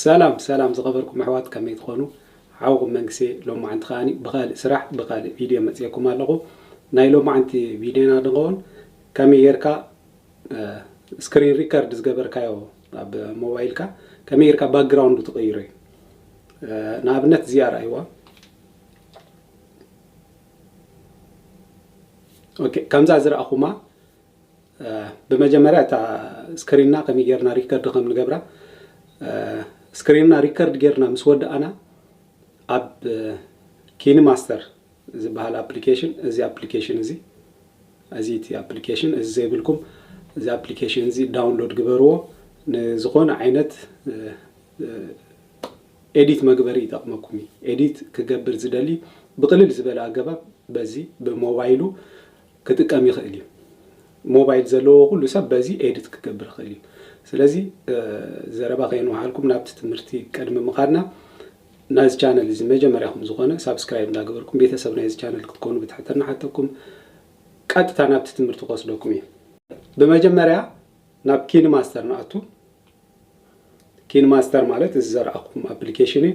ሰላም ሰላም ዝኸበርኩም ኣሕዋት ከመይ ትኾኑ ሓውኹም መንግሴ ሎማዓንቲ ከኣ ብኻልእ ስራሕ ብኻልእ ቪድዮ መጽኤኩም ኣለኹ ናይ ሎማዓንቲ ቪድዮና ድንኸውን ከመይ ጌርካ ስክሪን ሪከርድ ዝገበርካዮ ኣብ ሞባይልካ ከመይ ጌርካ ባክግራውንዱ ትቕይሮ እዩ ንኣብነት እዚኣ ርኣይዋ ኦኬ ከምዛ ዝረኣኹማ ብመጀመርያ እታ ስክሪንና ከመይ ጌርና ሪከርድ ከም ንገብራ ስክሪንና ሪከርድ ጌርና ምስ ወዳእና ኣብ ኪኒ ማስተር ዝበሃል ኣፕሊኬሽን እዚ ኣፕሊኬሽን እዚ እዚ እቲ ኣፕሊኬሽን እዚ ዘይብልኩም እዚ ኣፕሊኬሽን እዚ ዳውንሎድ ግበርዎ ንዝኾነ ዓይነት ኤዲት መግበሪ ይጠቕመኩም እዩ ኤዲት ክገብር ዝደሊ ብቕልል ዝበለ ኣገባብ በዚ ብሞባይሉ ክጥቀም ይኽእል እዩ። ሞባይል ዘለዎ ኩሉ ሰብ በዚ ኤድት ክገብር ይኽእል እዩ። ስለዚ ዘረባ ከየንውሓልኩም ናብቲ ትምህርቲ ቅድሚ ምኻድና ናዚ ቻነል እዚ መጀመርያኹም ዝኾነ ሳብስክራይብ እንዳገበርኩም ቤተሰብ ናይዚ ቻነል ክትኮኑ ብትሕትና ንሓተኩም። ቀጥታ ናብቲ ትምህርቲ ክወስደኩም እዩ። ብመጀመርያ ናብ ኪን ማስተር ንኣቱ። ኪን ማስተር ማለት እዚ ዘርኣኹም ኣፕሊኬሽን እዩ።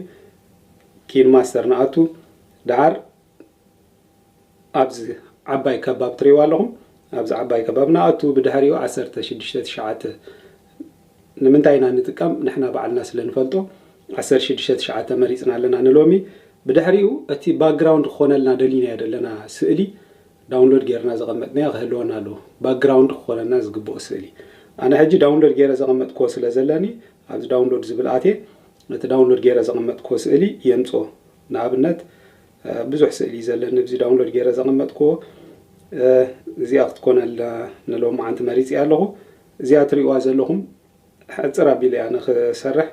ኪን ማስተር ንኣቱ። ደሓር ኣብዚ ዓባይ ከባብ ትሪእዋ ኣለኹም ኣብዚ ዓባይ ከባብ ንኣቱ ብድሕሪኡ ዓሰርተ ሽዱሽተ ትሽዓተ ንምንታይ ኢና ንጥቀም ንሕና ባዕልና ስለ ንፈልጦ ዓሰርተ ሽዱሽተ ትሽዓተ መሪፅና ኣለና ንሎሚ ብድሕሪኡ እቲ ባክግራውንድ ክኾነልና ደሊናዮ ዘለና ስእሊ ዳውንሎድ ጌርና ዘቐመጥናዮ ክህልወና ኣለዎ ባክግራውንድ ክኾነና ዝግብኦ ስእሊ ኣነ ሕጂ ዳውንሎድ ጌረ ዘቐመጥክዎ ስለ ዘለኒ ኣብዚ ዳውንሎድ ዝብል ኣትየ ነቲ ዳውንሎድ ጌረ ዘቐመጥክዎ ስእሊ የምፅኦ ንኣብነት ብዙሕ ስእሊ እዩ ዘለኒ ኣብዚ ዳውንሎድ ገይረ ዘቐመጥክዎ እዚኣ ክትኮን ኣላ ንሎማዓንቲ መሪፅያ ኣለኹ እዚኣ ትሪእዋ ዘለኹም ሕፅር ኣቢለ እያ ንክሰርሕ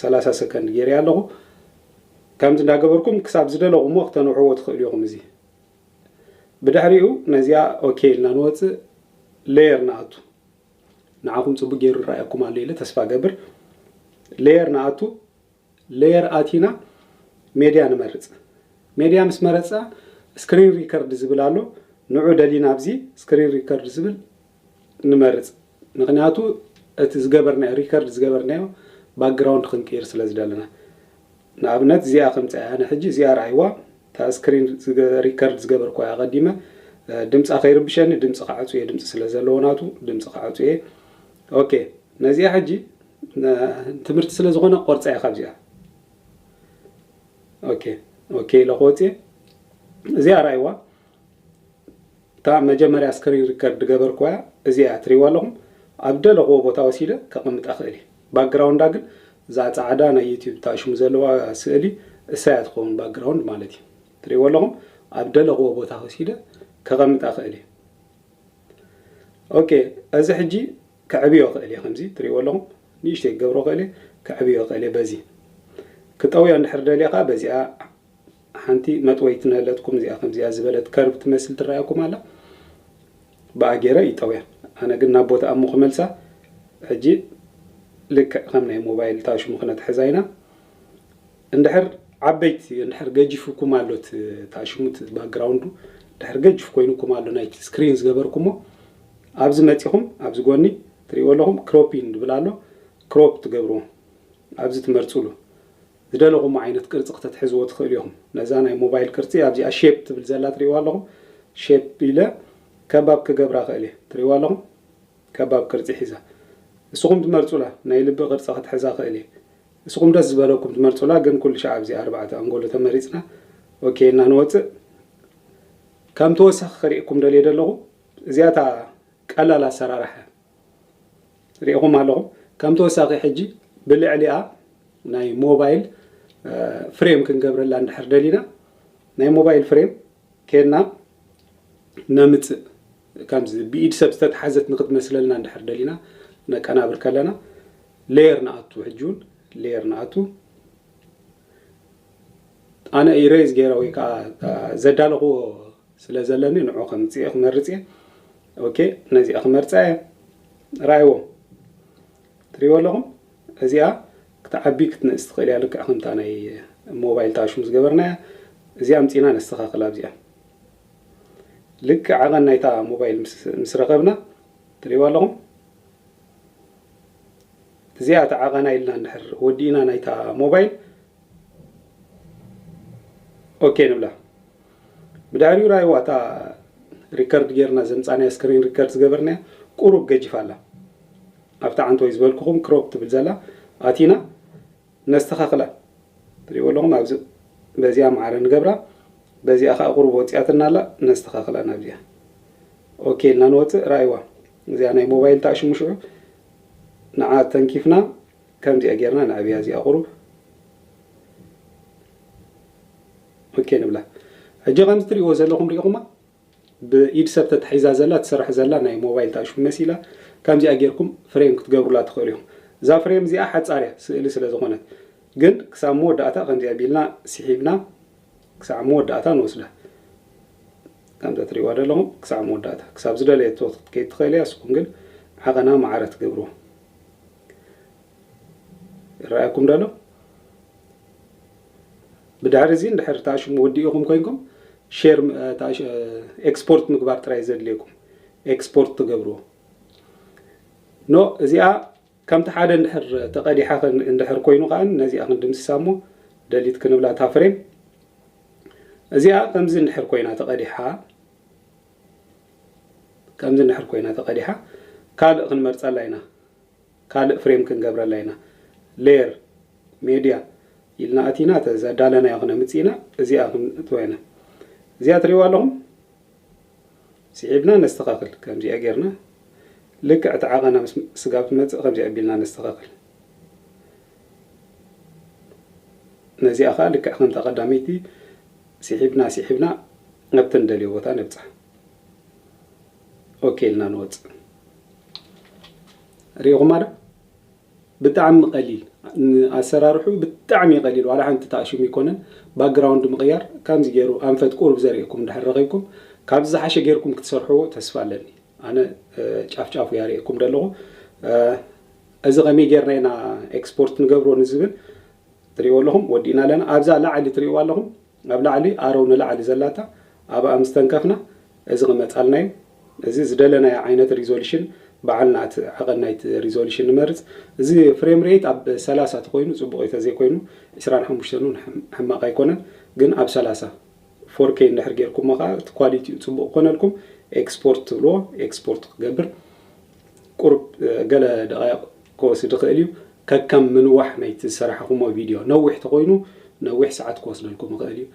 ሰላሳ ሰከንድ ገይረያ ኣለኹ ከምዚ እንዳገበርኩም ክሳብ ዝደለኹሞ ክተንውሕዎ ትኽእሉ ኢኹም እዚ ብድሕሪኡ ነዚኣ ኦኬ ኢልና ንወፅእ ሌየር ንኣቱ ንዓኹም ፅቡቅ ገይሩ ይረኣየኩም ኣሎ ኢለ ተስፋ ገብር ሌየር ንኣቱ ሌየር ኣቲና ሜድያ ንመርጽ ሜድያ ምስ መረጽና ስክሪን ሪከርድ ዝብል ኣሎ ንዑ ደሊና ኣብዚ ስክሪን ሪከርድ ዝብል ንመርጽ ምክንያቱ እቲ ዝገበርናዮ ሪከርድ ዝገበርናዮ ባክግራውንድ ክንቅይር ስለ ዝደለና ንኣብነት እዚኣ ከምጽኣ ኣነ ሕጂ እዚኣ ርኣይዋ እታ ስክሪን ሪከርድ ዝገበርኳ ኣቐዲመ ድምጻ ከይርብሸኒ ድምጺ ክዓጹ እየ ድምጺ ስለ ዘለዎ ናቱ ድምጺ ክዓጹ እየ ኦኬ ነዚኣ ሕጂ ትምህርቲ ስለ ዝኾነ ክቆርጻ እየ ካብዚኣ ኦኬ ኦኬ ኢለ ክወጽእ እዚኣ ራይዋ እታ መጀመርያ ስክሪን ሪከርድ ገበርክዋ እዚኣ ትሪዋ ኣለኹም ኣብ ደለኽዎ ቦታ ወሲደ ከቕምጣ ክእል እዩ ባክግራውንዳ ግን እዛ ፃዕዳ ናይ ዩቲብ ታሽሙ ዘለዋ ስእሊ እሳያ ትኸውን ባክግራውንድ ማለት እዩ ትሪዎ ኣለኹም ኣብ ደለኽዎ ቦታ ወሲደ ከቐምጣ ክእል እዩ ኦኬ እዚ ሕጂ ከዕብዮ ይኽእል እየ ከምዚ ትሪእዎ ኣለኹም ንእሽተይ ክገብሮ ይኽእል እየ ከዕብዮ ይኽእል እየ በዚ ክጠውዮ እንድሕር ደልየ ከኣ በዚኣ ሓንቲ መጥወይቲ ንህለትኩም እዚኣ ከምዚኣ ዝበለት ከርብ ትመስል ትረኣየኩም ኣላ ብኣ ገይረ ይጠውያ ኣነ ግን ናብ ቦታ ኣሞ ክመልሳ ሕጂ ልክዕ ከም ናይ ሞባይል ታሽሙ ክነትሕዛ ኢና እንድሕር ዓበይቲ እንድሕር ገጂፉኩም ኣሎ እቲ እታ ሽሙት እቲ ባክግራውንዱ እንድሕር ገጅፍ ኮይኑኩም ኣሎ ናይቲ ስክሪን ዝገበርኩሞ ኣብዚ መጺኹም ኣብዚ ጎኒ ትርእይዎ ኣለኹም ክሮፒን ዝብል ኣሎ ክሮፕ ትገብርዎ ኣብዚ ትመርጽሉ ዝደለኹሞ ዓይነት ቅርጺ ክተትሕዝዎ ትኽእሉ ኢኹም ነዛ ናይ ሞባይል ቅርጺ ኣብዚኣ ሼፕ ትብል ዘላ ትርእይዋ ኣለኹም ሼፕ ኢለ ከባብ ክገብራ እኽእል እየ ትርእይዋ ኣለኹም ከባብ ቅርጺ ሒዛ ንስኹም ትመርጹላ ናይ ልቢ ቅርጺ ክትሕዛ እኽእል እየ እስኹም ደስ ዝበለኩም ትመርጹላ ግን ኩልሻዕ ኣብዚ ኣርባዕተ ኣንጎሎ ተመሪጽና ኦኬ እና ንወጽእ ከም ተወሳኺ ከሪእኩም ደልየ ደለኹ እዚኣ እታ ቀላል ኣሰራርሓ ሪኢኹም ኣለኹም ከም ተወሳኺ ሕጂ ብልዕሊኣ ናይ ሞባይል ፍሬም ክንገብረላ እንድሕር ደሊና ናይ ሞባይል ፍሬም ኬድና ነምጽእ ከምዚ ብኢድ ሰብ ዝተትሓዘት ንክትመስለልና እንድሕር ደሊና ነቀናብር ከለና ሌየር ንኣቱ ሕጂ ውን ሌየር ንኣቱ ኣነ ኢሬዝ ገይረ ወይ ከዓ ዘዳለኽዎ ስለ ዘለኒ ንዑ ከምፅእ ክመርፅ እየ ኦኬ ነዚኣ ክመርፃ እየ ራእይዎ ትሪእዎ ኣለኹም እዚኣ ክትዓቢ ክትንእስ ትኽእል እያ ልክዕ ከምታ ናይ ሞባይል ታሽሙ ዝገበርናያ እዚኣ ኣምፂና ነስተኻኽል ኣብዚኣ ልክዕ ዓቐን ናይታ ሞባይል ምስ ረኸብና ትሪእዎ ኣለኹም እዚኣ ተዓቐና ኢልና እንድሕር ወዲእና ናይታ ሞባይል ኦኬ ንብላ ብድሕሪኡ ራይዋ እታ ሪከርድ ጌርና ዘምጻናያ ስክሪን ሪከርድ ዝገበርናያ ቁሩብ ገጂፋ ኣላ ኣብቲ ዓንተወይ ዝበልኩኹም ክሮፕ ትብል ዘላ ኣቲና ነስተኻኽላ ትሪእዎ ኣለኹም ኣብዚ በዚኣ ማዕረ ንገብራ በዚኣ ከዓ ቁሩብ ወፂኣትና ኣላ ነስተኻኽላ ናብዚኣ ኦኬ ኢልና ንወፅእ ራእይዋ እዚኣ ናይ ሞባይል ተኣሽሙሽዑ ንዓ ተንኪፍና ከምዚኣ ጌርና ንዕብያ እዚኣ ቁሩብ ኦኬ ንብላ። ሕጂ ከምዚ ትርእይዎ ዘለኹም ሪኢኹማ ብኢድ ሰብ ተታሒዛ ዘላ ትስራሕ ዘላ ናይ ሞባይል ታእሹም መሲላ ከምዚኣ ጌርኩም ፍሬም ክትገብሩላ ትኽእሉ ኢኹም። እዛ ፍሬም እዚኣ ሓጻር እያ ስእሊ ስለ ዝኾነት ግን ክሳብ መወዳእታ ከምዚ ኣቢልና ሲሒብና ክሳዕ መወዳእታ ንወስዳ። ከምዛ ትርእይዋ ዘለኹም ክሳዕ መወዳእታ ክሳብ ዝደለየቶ ክትከይድ ትኽእል እያ እስኹም ግን ዓቐና ማዕረ ትገብርዎ። ይረኣኩም ዶ ኣሎ ብድሕሪ እዚ እንድሕር ታሽሙ ወዲኢኹም ኮይንኩም ሼር ኤክስፖርት ምግባር ጥራይ ዘድልየኩም ኤክስፖርት ትገብርዎ ኖ እዚኣ ከምቲ ሓደ እንድሕር ተቐዲሓ እንድሕር ኮይኑ ከዓ ነዚኣ ክንድምስሳ እሞ ደሊት ክንብላ እታ ፍሬም እዚኣ ከምዚ እንድሕር ኮይና ተቐዲሓ ከምዚ እንድሕር ኮይና ተቐዲሓ ካልእ ክንመርፀላ ኢና ካልእ ፍሬም ክንገብረላ ኢና ሌየር ሜድያ ኢልና ኣቲና እቲ ዘዳለናዮ ክነምጽእ ኢና እዚኣ ክንእትዋ ኢና እዚኣ ትርእይዋ ኣለኹም ስዒብና ነስተኻኽል ከምዚኣ ጌርና ልክዕ እቲ ዓቐና ምስ ስጋብ ትመጽእ ከምዚ ኣቢልና ነስተኻኽል ነዚኣ ከዓ ልክዕ ከምታ ቀዳመይቲ ስሒብና ስሒብና ኣብቲ ንደልዮ ቦታ ነብጻ ኦኬ ኢልና ንወጽእ ሪኢኹማ ዶ ብጣዕሚ ቀሊል ኣሰራርሑ ብጣዕሚ እዩ ቀሊል ዋላ ሓንቲ ተኣሽሙ ይኮነን ባክግራውንድ ምቕያር ከምዚ ገይሩ ኣንፈት ቁሩብ ዘርእኩም ድሕር ረኺብኩም ካብዚ ዝሓሸ ገይርኩም ክትሰርሕዎ ተስፋ ኣለኒ ኣነ ጫፍ ጫፉ እያ ርእኩም ደለኹ እዚ ከመይ ጌርና ኢና ኤክስፖርት ንገብሮ ንዝብል ትሪእዎ ኣለኹም ወዲእና ኣለና ኣብዛ ላዕሊ ትሪእዎ ኣለኹም ናብ ላዕሊ ኣረው ንላዕሊ ዘላታ ኣብኣ ምስ ተንከፍና እዚ ክመጻልና እዩ። እዚ ዝደለናዮ ዓይነት ሪዞሉሽን ባዕልና እቲ ዓቐን ናይቲ ሪዞሉሽን ንመርጽ። እዚ ፍሬም ሬይት ኣብ ሰላሳ ተኾይኑ ጽቡቕ እዩ ተዘይ ኮይኑ ዕስራን ሓሙሽተን ውን ሕማቕ ኣይኮነን ግን ኣብ ሰላሳ ፎር ኬይ እንድሕር ጌርኩሞ ከኣ እቲ ኳሊቲኡ ጽቡቕ ክኾነልኩም ኤክስፖርት ትብልዎ ኤክስፖርት ክገብር ቁሩብ ገለ ደቓይቕ ክወስድ ይኽእል እዩ፣ ከከም ምንዋሕ ናይቲ ዝሰራሕኹሞ ቪድዮ። ነዊሕ ተኾይኑ ነዊሕ ሰዓት ክወስደልኩም ይኽእል እዩ።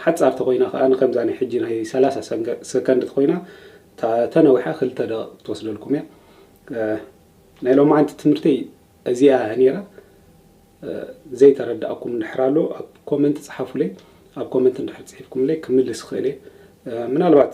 ሓጻር ተኾይና ከኣ ንከምዛ ናይ ሕጂ ናይ ሰላሳ ሰከንድ ተኾይና እታ ተነዊሓ ክልተ ደቒቕ ክትወስደልኩም እያ። ናይ ሎማዓንቲ ትምህርተይ እዚኣ እያ ኔራ። ዘይተረዳኣኩም እንድሕር ኣሎ ኣብ ኮመንት ጽሓፉለይ። ኣብ ኮመንት እንድሕር ጽሒፍኩምለይ ክምልስ ይኽእል እየ። ምናልባት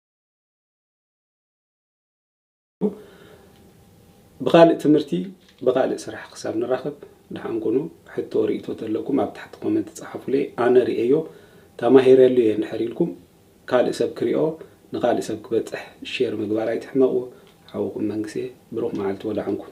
ብኻልእ ትምህርቲ ብኻልእ ስራሕ ክሳብ ንራኸብ ደሓን ኩኑ ሕቶ ርኢቶ ተለኩም ኣብ ታሕቲ ኮመንት ጸሓፉለይ ኣነ ርኤዮ ተማሂረሉ እየ እንድሕር ኢልኩም ካልእ ሰብ ክሪኦ ንኻልእ ሰብ ክበጽሕ ሼር ምግባር ኣይትሕመቁ ሓውኹም መንግሴ ብሩኽ መዓልቲ ወደሓን ኩን።